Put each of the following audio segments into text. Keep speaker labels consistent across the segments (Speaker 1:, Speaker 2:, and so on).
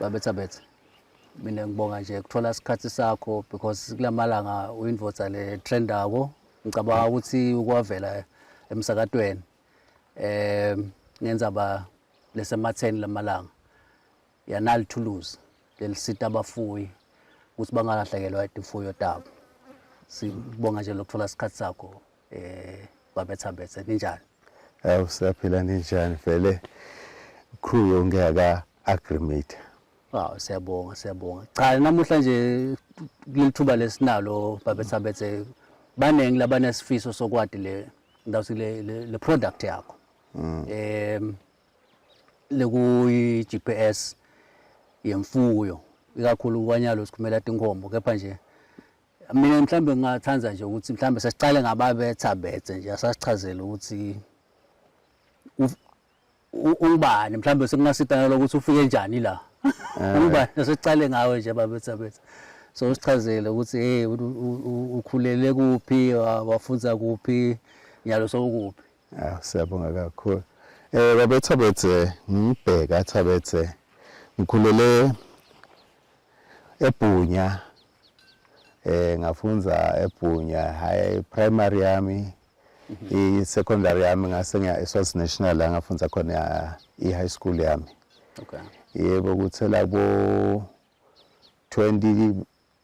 Speaker 1: babetha betha mina ngibonga nje kuthola isikhathi sakho because kulamalanga uyinvoza le trendako ngicabanga ukuthi ukwavela emsakatweni eh ngenza ba lesematheni lamalanga Yanali thuluzi lelisita abafuyi ukuthi bangalahlekelwa imfuyo tabo. Sibonga nje lokuthola isikhathi sakho eh babetha bethe ninjani? Eh usaphila
Speaker 2: ninjani vele crew yonke aka agreement. Wow siyabonga
Speaker 1: siyabonga. Cha namuhla nje kulithuba lesinalo babetha bethe baningi labanesifiso sokwadi le ndawuthi le, le, le product yakho mm. um lekuyi-GPS yemfuyo ikakhulu ukwanyalo sikhumela tinkhombo kepha nje mina mhlawumbe ngingathanda nje ukuthi mhlawumbe sesiqale ngababetha bethe nje asasichazele ukuthi ungubani mhlawumbe sekungasitana lokuthi ufike njani la eh. ungubani sesiqale ngawe nje babetha bethe so usichazele ukuthi hey ukhulele kuphi wafunza kuphi nyalo sokuphi Ah, siyabonga
Speaker 2: kakhulu. Eh baba Thabethe ngibheka Thabethe ngikhulele eBhunya eh ngafunza eBhunya high primary yami mhm. i secondary yami ngase ngiya eSwaz National la ngafunza khona i high school yami okay
Speaker 1: yebo kuthela
Speaker 2: bo 20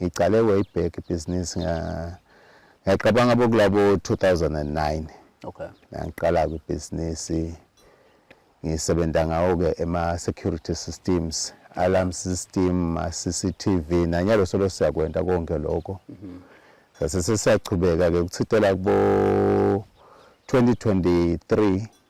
Speaker 2: Ngiqale way back ibhizinisi ngiyacabanga bokulabo 2009 okay
Speaker 1: ngiqala
Speaker 2: kwibhizinisi ngisebenza ngawo-ke ema-security systems alarm system ma-cctv nanyalo solo siyakwenta konke lokho mhm. sase sesiyachubeka-ke kuthitela kubo-2023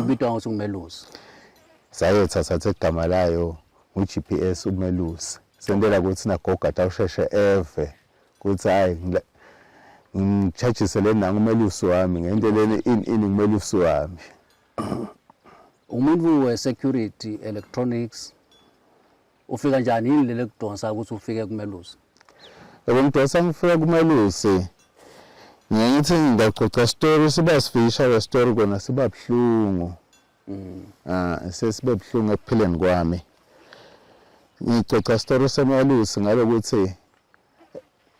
Speaker 1: ibitwa ngokuthi ngumelusi sayetha
Speaker 2: sathe igama layo ngu-gps umelusi sentela ukuthi nagoga tawusheshe eve kuthi hayi ngitshajise le nangu umelusi wami ngento leni ini ini ngumelusi wami umuntu
Speaker 1: we-security electronics ufika njani yini leli kudonsa ukuthi ufike kumelusi yebo ngidonsa
Speaker 2: ngifika kumelusi ngiye ngithi ngiyaxoxa story siba sifisha le story kona siba buhlungu mm. ah sesibe buhlungu ekuphileni kwami ngixoxa story semelusi ngalokuthi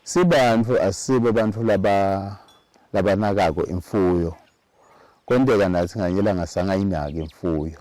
Speaker 2: sibantu asibe abantu laba labanakako imfuyo konteka nathi nganyela ngasangayinaki imfuyo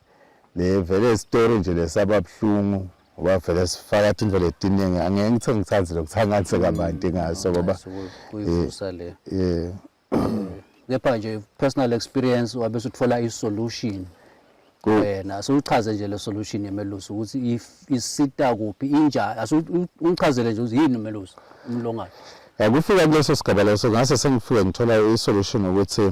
Speaker 2: Le vele story nje lesaba buhlungu ngoba vele sifaka indlela etiningi angeke ngithe ngithanze lokuthangathe mm, kabanti ngaso ngoba kuyivusa le
Speaker 1: eh kepha nje personal experience wabe suthola i solution wena asuchaze nje le solution yemelusi ukuthi isita kuphi injani asuchazele nje ukuthi yini umelusi umlongane yakufika
Speaker 2: kuleso sigaba leso ngase sengifike ngithola i solution ukuthi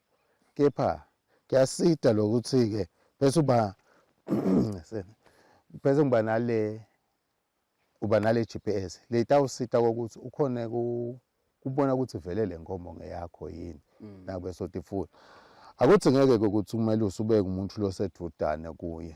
Speaker 2: kepha kuyasida lokuthi-ke bese uba bese ngiba nale uba nale GPS le itawusita kokuthi ukhone kubona ukuthi vele le nkomo ngeyakho yini mm. nakube sotifula akuthi ngeke ukuthi umelusi ubeke umuntu losedudane kuye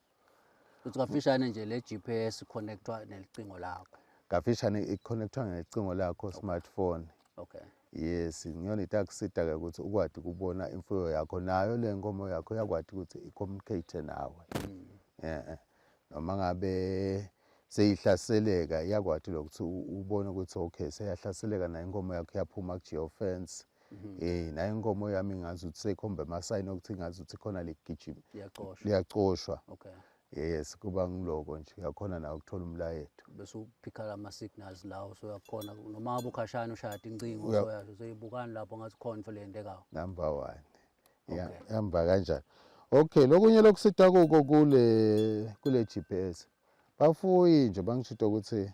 Speaker 2: Uthi
Speaker 1: kafishane nje le GPS connectwa nelicingo lakho. Kafishane
Speaker 2: iconnectwa ngelicingo lakho smartphone. Okay. Yes, ngiyona itakusida ke ukuthi ukwadi kubona imfuyo yakho nayo le nkomo yakho yakwadi ukuthi icommunicate nawe. Mm. Eh. eh. Noma ngabe seyihlaseleka iyakwati lokuthi ubone ukuthi okay seyahlaseleka nayo inkomo yakho iyaphuma ku-geofence Mhm. Eh naye inkomo yami ngazi ukuthi seyikhomba amasayini okuthi ngazi ukuthi khona ligijima. Liyacoshwa. Liyacoshwa. Okay. Yes kuba ngiloko nje yakhona na ukuthola umlayeto. Bese uphikhala ama
Speaker 1: signals lawo so yakhona noma abukhashana ushaya incingo so yasho seyibukani lapho ngathi khona into lento ekawo. Number 1.
Speaker 2: Yeah, hamba kanjani. Okay, lokunye lokusita kuko kule kule GPS. Bafuyi nje bangishito ukuthi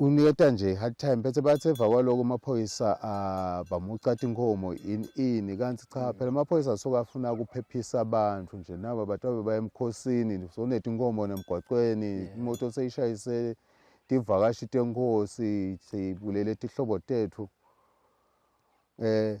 Speaker 2: uniketa nje hard time bese bathi emva kwaloko amaphoyisa ah, bamucatha inkomo ini ini kanti cha mm. phela amaphoyisa asuke afuna ukuphephisa abantu nje naba abantu abebaye emkhosini sonetha inkomo nemgwaqweni imoto seyishayise tivakashi tenkosi sibulele tihlobo tethu eh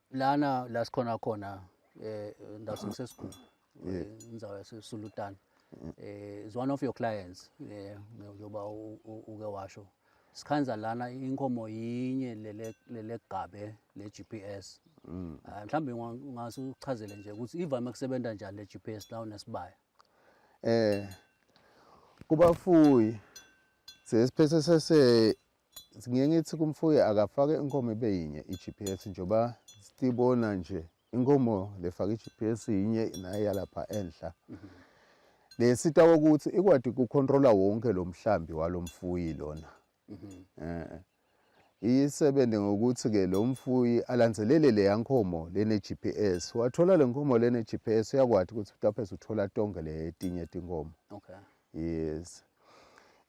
Speaker 1: lana la sikhona khona eh ndawo sisesigulu eh, indawo yasesulutana eh is one of your clients eh njengoba uke washo sikhanza lana inkomo yinye lele lele gabe le GPS mm. ah, mhlambe ngase uchazele nje ukuthi ivame kusebenza njani le GPS la unesibaya eh
Speaker 2: kubafuyi sesiphethe sese ngiye ngithi kumfuyi akafake inkomo ibe yinye i-GPS njengoba sibona nje inkomo lefaka i-GPS yinye naye yalapha enhla le sita kokuthi ikwadi kucontrola wonke lo mhlambi walo mfuyi lona eh isebenze ngokuthi ke lo mfuyi alandzelele le yankomo lene GPS wathola le nkomo lene GPS uyakwadi ukuthi utaphe uthola tonke le tinye tinkomo okay yes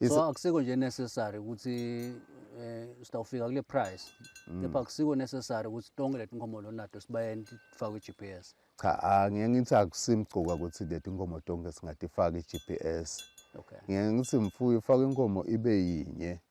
Speaker 1: so akusiko nje necessary ukuthi eh sitawufika kule price mm. kepha akusiko necessary ukuthi tonke letinkomo lonato sibayeni tifakwe i-GPS cha angeke
Speaker 2: ngithi akusimgcuka ukuthi letinkomo tonke singatifaka i-GPS okay ngeke ngithi mfuyo ufaka inkomo ibe yinye okay.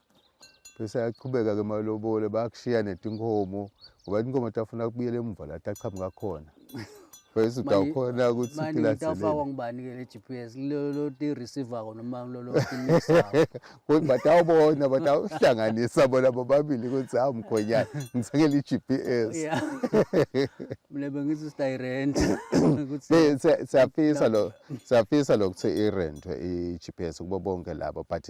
Speaker 2: bese ayaqhubeka ke malobole bayakushiya netinkomo ngoba inkomo tafuna kubuyela emuva la taqhamuka khona bese utawukhona ukuthi sikilaselefakwa
Speaker 1: ngubani ke le GPS lolo ti receiver ko noma lolo ti mixer kodwa batawubona
Speaker 2: batawuhlanganisa bona bobabili ukuthi hawu mkhonyana ngithengele i-GPS
Speaker 1: mina bengithi sitayirent
Speaker 2: siyafisa lo siyafisa lokuthi irentwe i-GPS kubo bonke labo but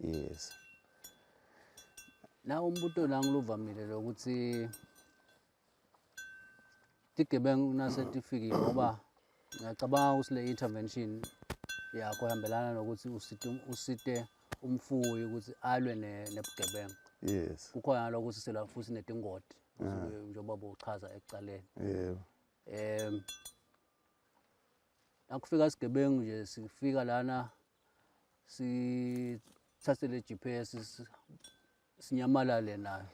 Speaker 2: yes
Speaker 1: nawo umbuto la ngiluvamile lokuthi tigebengu nasetifikile ngoba ngiyacabanga ukuthi le intervention yakho ihambelana nokuthi usite um, usite umfuyi ukuthi alwe nebugebengu yes kukhona lokuthi sela futhi netingoti ah. njengoba bochaza ekucaleni yebo em nakufika isigebengu nje sifika lana sithathe le GPS sinyamalale nayo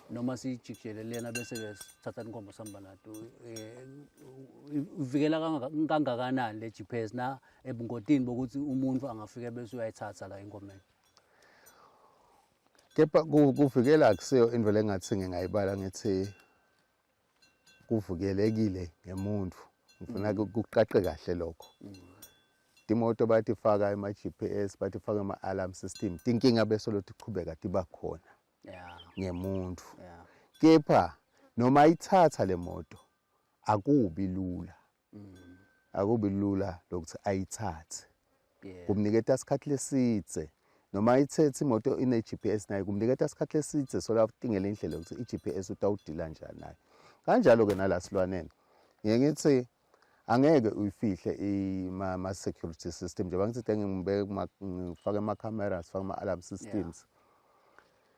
Speaker 1: noma siyijikjele lena bese ke sithatha inkombo sihamba nato eh, uvikela kangakanani le GPS na ebungotini bokuthi umuntu angafike bese uyayithatha la inkomeni
Speaker 2: kepha kuvikela akusiyo into lengathi ngingayibala ngithi kuvukelekile ngemuntu ngifuna mm. kuqaqe kahle lokho timoto mm. bathi faka ema GPS bathi faka ema alarm system tinkinga bese lothi qhubeka tiba khona ngemuntu kepha noma ithatha le moto akubi lula akubi lula lokuthi ayithathe kumniketa isikhathi lesidze noma ithethe imoto ine-GPS naye kumniketa isikhathi lesidze solatingela indlela ukuthi i-GPS utawudila njani naye kanjalo-ke nala silwaneni ngiye ngithi angeke uyifihle ama-security system njengoba ngithi ngifake ama-cameras fake ama-alarm systems yeah.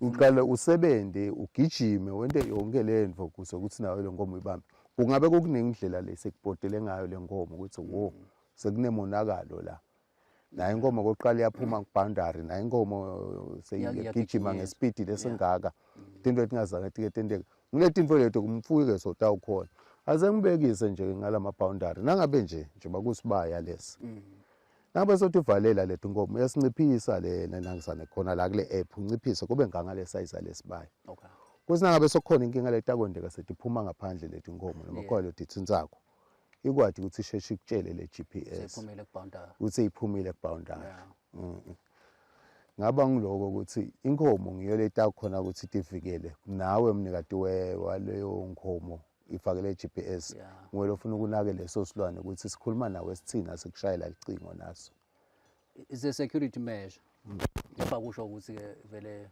Speaker 2: uqale usebenze ugijime wente yonke le nto ukuze ukuthi nawe le nkomo ibambe kungabe kukuningi indlela le sekubhodele ngayo le nkomo ukuthi wo sekunemonakalo la naye inkomo kokuqala iyaphuma kubhandari naye inkomo seyigijima ngesipidi lesingaka into etingazange tike tenteke kunetinto leto kumfuyi ke sota ukhona aze ngibekise nje ngalama boundary nangabe nje nje bakusibaya lesi mm. Ngabe sothi valela lethu inkomo yasinciphisa lena nangizane khona la kule app unciphise kube nganga le size lesibaya. Okay. Kusina ngabe sokukhona inkinga letakwendeka sethi phuma ngaphandle lethi inkomo noma khona lethi insakho. Ikwathi ukuthi isheshe ikutshele le GPS. Sephumile ku boundary. Ukuthi iphumile ku boundary. Yeah. Mm. -mm. ngaba ngiloko ukuthi inkomo ngiyo leta khona ukuthi tivikele nawe mnikati waleyo nkomo ifakele GPS yeah. ngwele ufuna ukunake leso silwane ukuthi sikhuluma nawe sithini asikushayela licingo naso is a
Speaker 1: security measure ngapha kusho ukuthi ke vele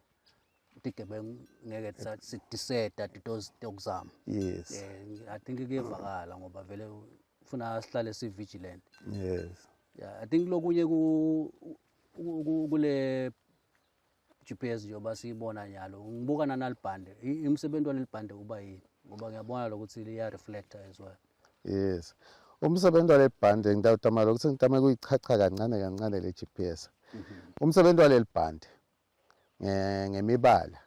Speaker 1: tigebengu ngeke sitiseta titozi tokuzama
Speaker 2: yes yeah, i think
Speaker 1: kuyevakala ngoba vele ufuna sihlale si vigilant yes
Speaker 2: yeah i think
Speaker 1: lokunye ku kule GPS njengoba siyibona nyalo ngibuka nanalibhande imsebenzi walelibhande uba yini ngoba ngiyabona lokuthi liya reflector as well yes
Speaker 2: umsebenzi walelibhande ngidawutama lokuthi ngitame kuyichacha kancane kancane le GPS mhm. umsebenzi walelibhande ngemibala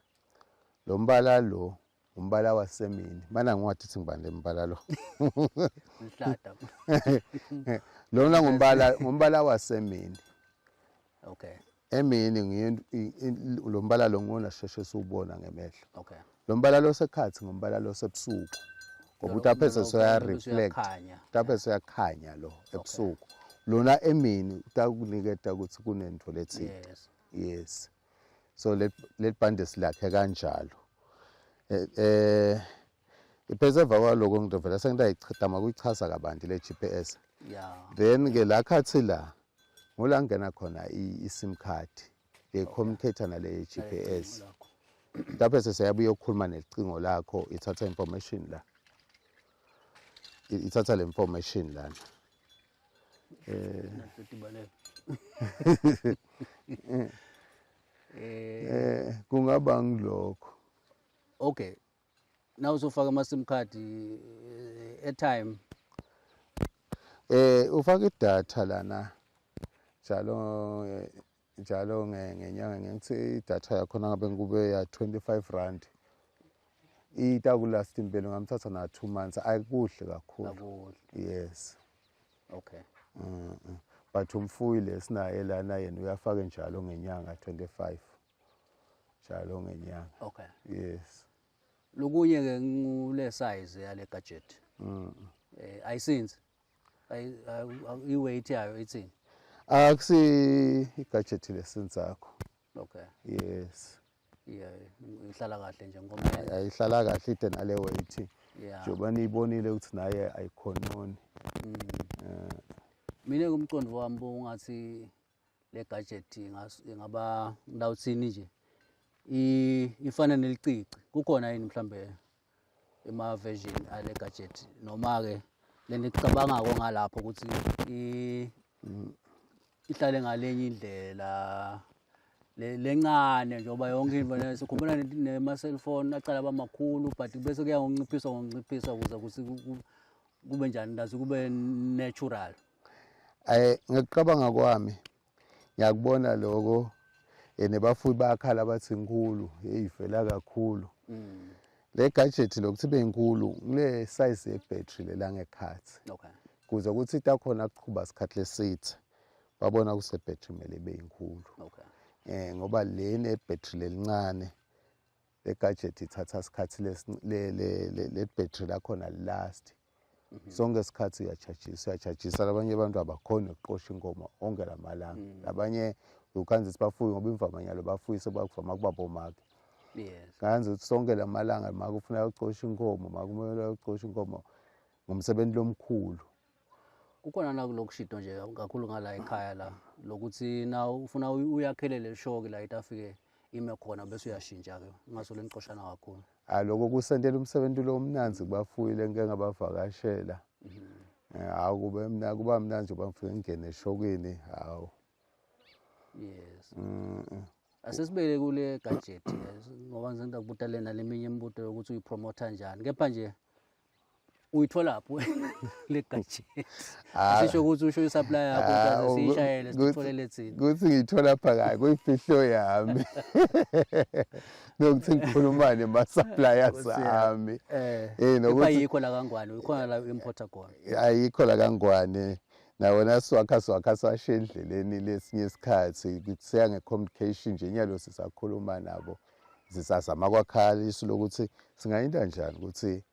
Speaker 2: lo mbala lo umbala wasemini mana ngiwathi uthi ngibani le mbala lo
Speaker 1: mhlata
Speaker 2: lona ngumbala ngumbala wasemini
Speaker 1: okay emini ngiyo
Speaker 2: lo mbala lo ngona sheshe siwubona ngemehlo okay lo mbala lo
Speaker 1: sekhathi
Speaker 2: ngombala lo sebusuku ngoba ukuthi aphe sesiyareflect aphe siyakhanya lo ebusuku lona emini utakuniketa ukuthi kunento lethile yes so leli bhande silakhe kanjalo eh, eh iphese emva kwaloko ngidovela sengidayichithama kuyichaza kabanti le GPS then ke la khathi la ngola ngena khona i-sim card ngiyicommunicator nale GPS lapho seseyabuye ukukhuluma nelicingo lakho ithatha information la ithatha le information lana eh eh kungaba ngilokho okay
Speaker 1: na uzofaka ama sim card eh, airtime
Speaker 2: eh ufaka idatha lana njalo eh, njalo ngenyanga ngithi idatha yakhona ngabe ngikube ya 25 rand itakulast impilo ngamthatha na 2 months ayikuhle kakhulu yes okay
Speaker 1: mm
Speaker 2: -mm. but umfuyi lesinaye lana yena uyafaka njalo ngenyanga 25 njalo ngenyanga okay yes lokunye
Speaker 1: ke ngule size yale gadget mm eh ayisinzi i-weight yayo ithini akusi
Speaker 2: ah, i-gadget lesenzakho okay
Speaker 1: yes
Speaker 2: yeah
Speaker 1: ihlala kahle nje ngoba ayihlala kahle ide
Speaker 2: nale weight njengoba niyibonile ukuthi naye ayikhononi mm. eh.
Speaker 1: mina kumqondo wami ungathi le gadget ingaba ngilawuthini nje ifana nelicici kukhona yini mhlambe ima-version ale gadget noma-ke le nto icabangako ngalapho ukuthi ihlale ngalenye indlela lencane njengoba yonke into leyo sikhumbula nema-cellphone aqala abamakhulu but bese kuya ngonciphisa ngonciphisa ukuze kuthi kube njani ndazi kube natural um
Speaker 2: ngekucabanga kwami ngiyakubona lokho and bafuyi bayakhala bathi nkulu heyi vela kakhulu mm. le gadget lokuthi ibe nkulu kule size ye-battery lelangekhathi okay. kuze
Speaker 1: ukuthi ita
Speaker 2: khona kuqhuba sikhathi lesithe babona kuse-battery kumele ibe yinkulu okay. eh
Speaker 1: ngoba le
Speaker 2: ne-battery lelincane le gadget ithatha isikhathi le-battery lakhona last Mhm. sonke isikhathi uyajajisa uyajajisa labanye abantu abakhoni ukuqosha inkomo onke la malanga mhm. labanye ukhanza ukuthi bafuye ngoba imvamanyalo bafuye sebakuvama kuba bomake
Speaker 1: kanzi ukuthi sonke la
Speaker 2: malanga make ufuna yokucosha inkomo make umele yokucosha inkomo ngumsebenzi lomkhulu kukhona
Speaker 1: na kulokushito nje kakhulu ngala ekhaya la lokuthi na ufuna uyakhelele lishoke la itafike ime khona bese uyashintsha-ke ungasole nicoshana kakhulu Hayi lokho kusentela
Speaker 2: umsebenzi lo omnanzi kubafuyi lenke ngabavakashela. Mhm. Eh, hawu kube mina kuba mina nje bangifike ngene eshokini hawu.
Speaker 1: Yes. Mm. mm. Asisibeke kule gadget ngoba ngizenda kubuta lena leminye imibuto yokuthi uyipromote kanjani. Kepha nje uyithola phi le gadget ah. asisho ukuthi usho i-supply yakho ah, ukuthi siyishayele sithole lethini ukuthi ngiyithola pha
Speaker 2: kayi kuyifihlo yami nokuthi ngikhulumane ama-suppliers ami eh, eh,
Speaker 1: ayikho la kangwane ukhona la u-importer khona ayikho la kangwane
Speaker 2: nawona swakha swakha swashe endleleni lesinye isikhathi kuseya nge-communication nje nyalo sisakhuluma nabo zisazama kwakhala isu lokuthi singayinda njani ukuthi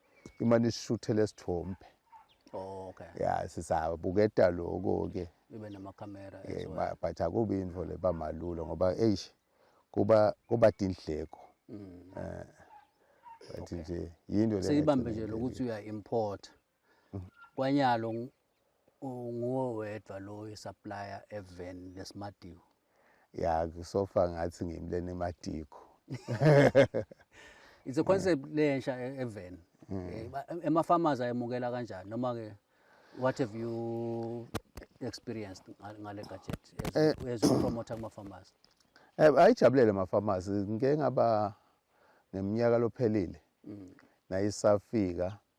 Speaker 2: imane isishuthele sithombe oh, okay
Speaker 1: ya
Speaker 2: sisabuketa lokho ke ibe namakhamera
Speaker 1: yeah, but akubi
Speaker 2: into le bamalulo ngoba eish kuba kuba dindleko mm. eh bathi nje yinto le seyibambe nje lokuthi uya
Speaker 1: import kwanyalo nguwe wedwa lo supplier even lesimadiwo ya
Speaker 2: kusofa ngathi ngimlene emadiko
Speaker 1: it's a concept lensha e-, even mm. eh, ema farmers ayemukela kanjani noma ke what have you experienced ngale gadget as eh. as a promoter kuma farmers eh, ayijabulele
Speaker 2: ama farmers ngeke ngaba ngeminyaka lophelile mm. nayisafika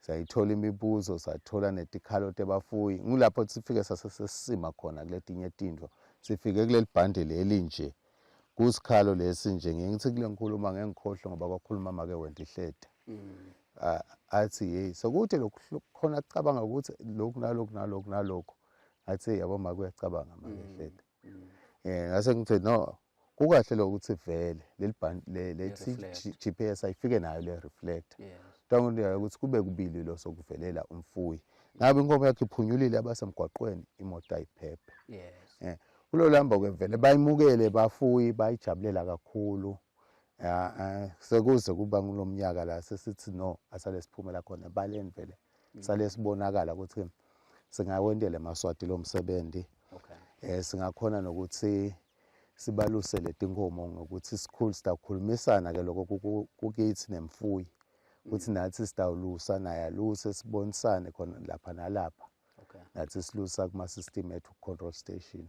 Speaker 2: sayithola imibuzo sathola netikhalo tebafuyi ngulapho sifike sase sesisima khona kuletinye tintfo sifike kuleli bhande leli nje kusikhalo lesi nje ngiye ngithi kule ngikhuluma ngengikhohlwe ngoba kwakhuluma make wenda ihleda mm. athi yeyi sekude lokhu khona kucabanga ukuthi lokhu nalokhu nalokhu nalokhu athi yabo make uyacabanga make mm. ihleda eh ngase ngithe no kukahle lo ukuthi vele leli band le le GPS ayifike nayo le reflector ntango ndiyayo ukuthi kube kubili lo sokuvelela umfuyi ngabe inkomo yakhe iphunyulile abasemgwaqweni imoto ayiphephe yes eh kulo lamba ke vele bayimukele bafuyi bayijabulela kakhulu Eh, sekuze kuba kulo mnyaka la sesithi no asale siphumela khona ebaleni vele mm. sale sibonakala ukuthi singawendela emaswati lo msebenzi okay eh singakhona nokuthi sibaluse letinkomo ngokuthi sikhulu sitakhulumisana ke lokho kukithi nemfuyi ukuthi mm. nathi sitawulusa naye aluse sibonisane khona lapha nalapha okay nathi silusa kuma system ethu control station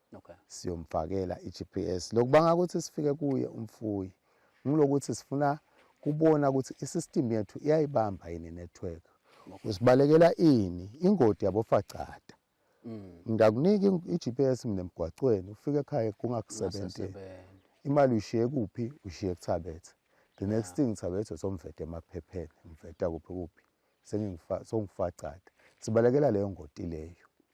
Speaker 2: okay. siyomfakela i-GPS lokubanga ukuthi sifike kuye umfuyi ngilokuthi sifuna kubona ukuthi i-system yethu iyayibamba yini network usibalekela ini ingodi yabofacada mm. ngiyakunika i-GPS mina emgwacweni ufike ekhaya kungakusebenzi imali uyishiye kuphi ushiye kuthabethe the next thing thabethe somvete emaphepheni mveta kuphi kuphi sengifacada sibalekela leyo ngoti leyo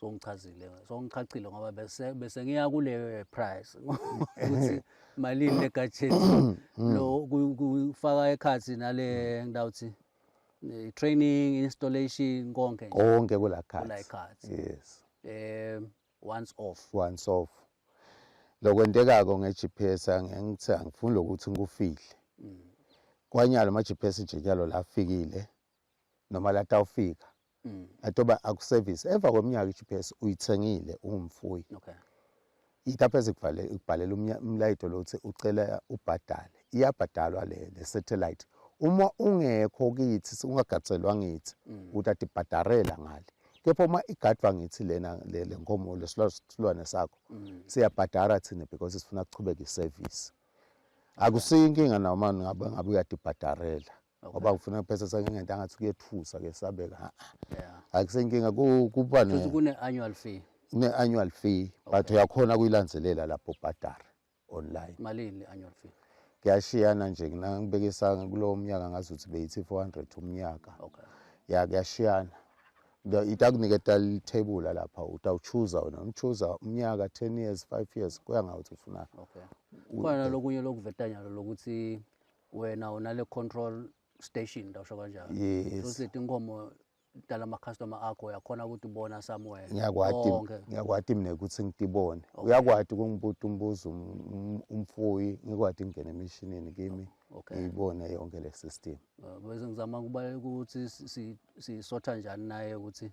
Speaker 2: songichazile
Speaker 1: songichachile ngoba bese bese ngiya kule price ukuthi malini le gadget mm. lo kufaka ekhathi nale ngidawuthi training installation konke nje konke kula cards kula
Speaker 2: cards
Speaker 1: yes
Speaker 2: eh
Speaker 1: once off once off
Speaker 2: lokwentekako ngeGPS ngengithe angifuni lokuthi ngikufihle mm. kwanyalo ama GPS nje nyalo lafikile noma latawufika mm. atoba akusevisi emva kweminyaka i-gps uyithengile ungumfuyi okay.
Speaker 1: yilapho
Speaker 2: ezikubhalela umlayito lothi ucela ubhadale iyabhadalwa le le satellite uma ungekho kithi ungagadselwa ngithi mm. utati bhadarela ngale kepha uma igadwa ngithi lena le nkomo lesilwane sakho mm. siyabhadara thina because sifuna kuchubeka iservice akusiyo inkinga noma ngabe ngabe uyadibhadarela ngoba ngifuna kuphesa sake ngento angathi kuyethusa ke sabeka ha akusenkinga kuba ne kune annual
Speaker 1: fee ne annual fee
Speaker 2: but uyakhona kuyilandzelela lapho ubhadara online malini annual fee
Speaker 1: kuyashiyana nje
Speaker 2: ngibekisa kulowo mnyaka ngazi ukuthi beyithi 400 umnyaka okay ya
Speaker 1: kuyashiyana
Speaker 2: itakunike tal table lapha utawuchuza wena umchuza umnyaka 10 years 5 years kuya ngathi ufuna okay
Speaker 1: khona lokunye lokuvetanyalo lokuthi wena unale control station ndasho kanjalo yes. so setinkomo dala ama customer akho uyakhona ukuthi ubona somewhere ngiyakwati ngiyakwati
Speaker 2: mina ukuthi ngitibone okay. uyakwati kungibuta umbuzo um, umfuyi ngikwati ngene emishinini kimi okay. ngiyibone yonke le system uh, bese ngizama
Speaker 1: kubaleka ukuthi sisotha njani naye ukuthi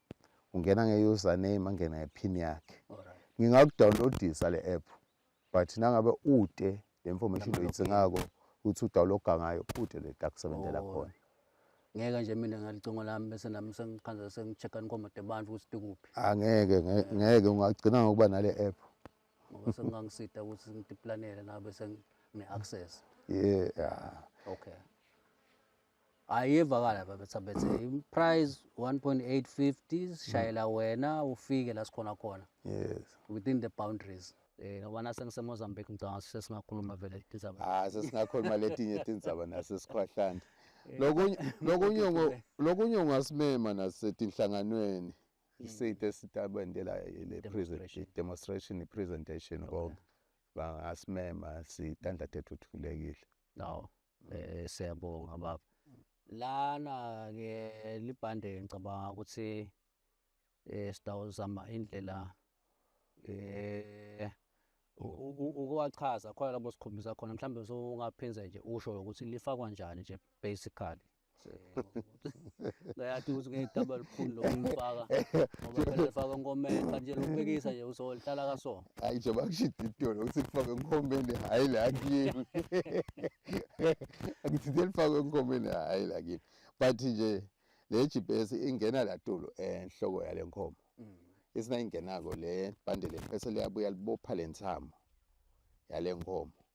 Speaker 2: ungena nge-username angene ngephini yakhe
Speaker 1: ngingakudownloadisa
Speaker 2: le app but nangabe ude le information oyidingako ukuthi udawuloga ngayo ude le takusebenzela oh. khona ngeke nje
Speaker 1: mina ngalicingo lami bese nami sengikhanza sengi-check-a nikhomode abantu ukuthi tikuphi angeke
Speaker 2: ngeke ungagcina ngokuba nale app ngoba
Speaker 1: sengingangisida ukuthi ngidiplanele nabe sengine-access yeah
Speaker 2: okay
Speaker 1: hayi iyevakala babetha bethe price 1.850 sishayela mm. wena ufike la sikhona khona yes within
Speaker 2: the boundaries
Speaker 1: eh ngoba nase ngisemozambique ngicabanga sesingakhuluma vele tindzaba ah sesingakhuluma letinye
Speaker 2: tindzaba nase sikhwahlanda eh, lokunye lokunye lokunye ungasimema nasetinhlanganweni isithe sitabende la le prison demonstration presentation konke bangasimema sitanda tethu thulekile no
Speaker 1: Eh siyabonga baba. Lana ke libhande ngicabanga ukuthi eh sidawuzama indlela eh ukuwachaza khona lapho sikhombisa khona mhlawumbe usungaphinze nje usho ukuthi lifakwa njani nje basically Ngayathi ukuthi ngiyidaba elikhulu lokuyifaka ngoba phela ifaka enkomeni kanje lokubekisa nje uzohlala kasona. Hayi nje bakushida
Speaker 2: itolo ukuthi kufake enkomeni hayi la kimi. Ngithinde lifake enkomeni hayi la kimi. But nje le GPS ingena la tolo enhloko yale nkomo. Mm. Isina ingenako le bande le phese liyabuya libopha lensamo yale nkomo.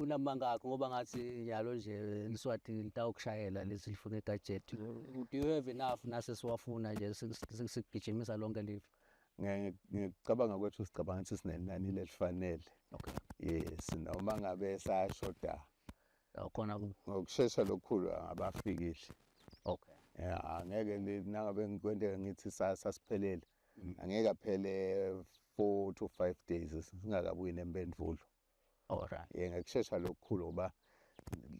Speaker 1: unamanga akho ngoba ngathi njalo nje liswati litawukushayela lesi lifuna igadget do you have enough nase siwafuna nje sikugijimisa lonke live ngicabanga
Speaker 2: kwethu sicabanga ukuthi sinenani lelifanele okay
Speaker 1: yes noma
Speaker 2: ngabe sayashoda khona
Speaker 1: ngokushesha
Speaker 2: lokukhulu abafikile okay
Speaker 1: yeah angeke
Speaker 2: nangabe ngikwente ngithi sasiphelele mm. angeke aphele 4 to 5 days singakabuyi nempendulo Alright.
Speaker 1: Yeah, ngokushesha lokukhulu
Speaker 2: ngoba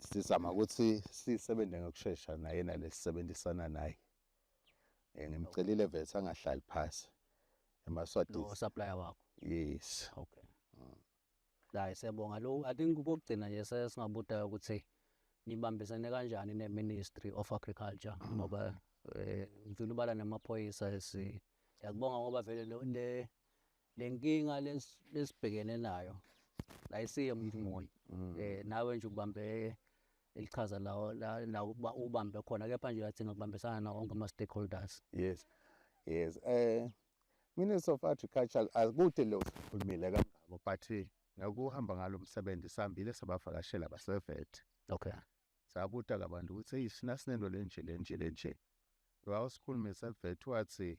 Speaker 2: sizama ukuthi sisebenze ngokushesha naye nalesisebenzisana naye. Eh ngimcelile vese angahlali phansi. Emaswati. Lo supplier wakho.
Speaker 1: Yes. Okay. Mm. Hayi siyabonga lo I think ukugcina nje sesingabuda ukuthi nibambisene kanjani ne Ministry of Agriculture mm. ngoba eh ngifuna ubala namaphoyisa esi yakubonga ngoba vele le le nkinga lesibhekene nayo la isiye umuntu munye um nawe nje ukubambe elichaza lawo la ukuba ubambe khona kepha nje uyadinga ukubambisana nawo wonke ama-stakeholders yes
Speaker 2: yes um minister of agriculture akude lo sikhulumile kangako but ngakuhamba ngalo msebenzi sihambile sabavakashela basevet okay
Speaker 1: sabuta
Speaker 2: kabantu ukuthi eyi sina sinento lenje lenje lenje wawusikhulumisa evet wathi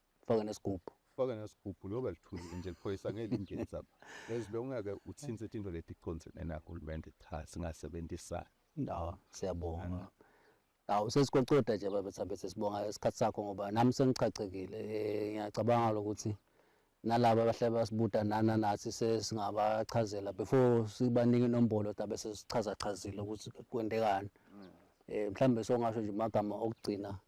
Speaker 2: faka nesigubhu
Speaker 1: faka nesigubhu loba lithuli nje
Speaker 2: liphoyisa ngeke lingeza lapha as long ake uthinte into leti conse nena hulumende cha singasebenzisana no
Speaker 1: siyabonga awu sesicocoda nje baba thambe sesibonga isikhathi sakho ngoba nami sengichachekile eh, ngiyacabanga lokuthi nalaba abahle basibuta nana nathi sesingabachazela before sibanike inombolo tabe sesichaza chazile ukuthi kwendekani mm. eh mhlambe songasho nje magama okugcina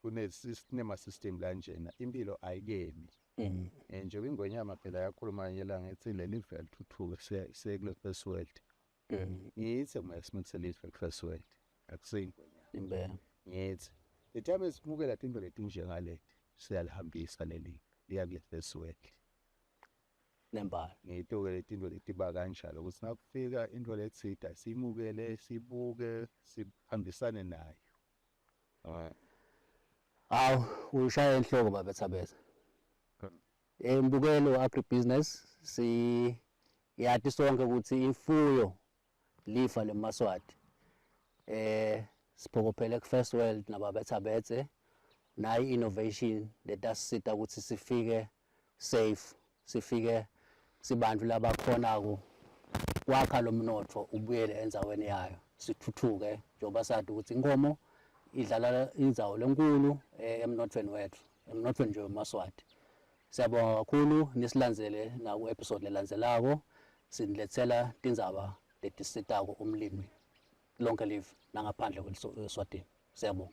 Speaker 2: kune sinema system la njena impilo ayikemi um njengoba ingwenyama phela yakhuluma nje la ngithi leli vele thuthuke sekule first world um ngithi uma simithele izwe first world akusingwenyama impela ngithi the time esimukela into letinje ngaleti siyalihambisa leli liya kule first world
Speaker 1: nembala ngiyitoke
Speaker 2: letinto letiba kanjalo ukuthi nakufika into lethida simukele sibuke sihambisane nayo Awu
Speaker 1: ushaya enhloko baba Thabeza. Embukelo eh, agribusiness si yathi sonke ukuthi imfuyo lifa lemaswati. Eh siphokophele ku First World nababetha bethe nayi innovation letasisita ukuthi sifike safe sifike sibantu labakhona ku kwakha lo mnotho ubuyele enzaweni yayo sithuthuke njengoba sathi ukuthi inkomo idlala inzawo lenkulu eh, emnothweni wethu emnothweni nje wemaswati siyabonga kakhulu nisilandzele naku episode lelandzelako siniletsela tindzaba letisitako umlimi lonke live nangaphandle kweswatini siyabonga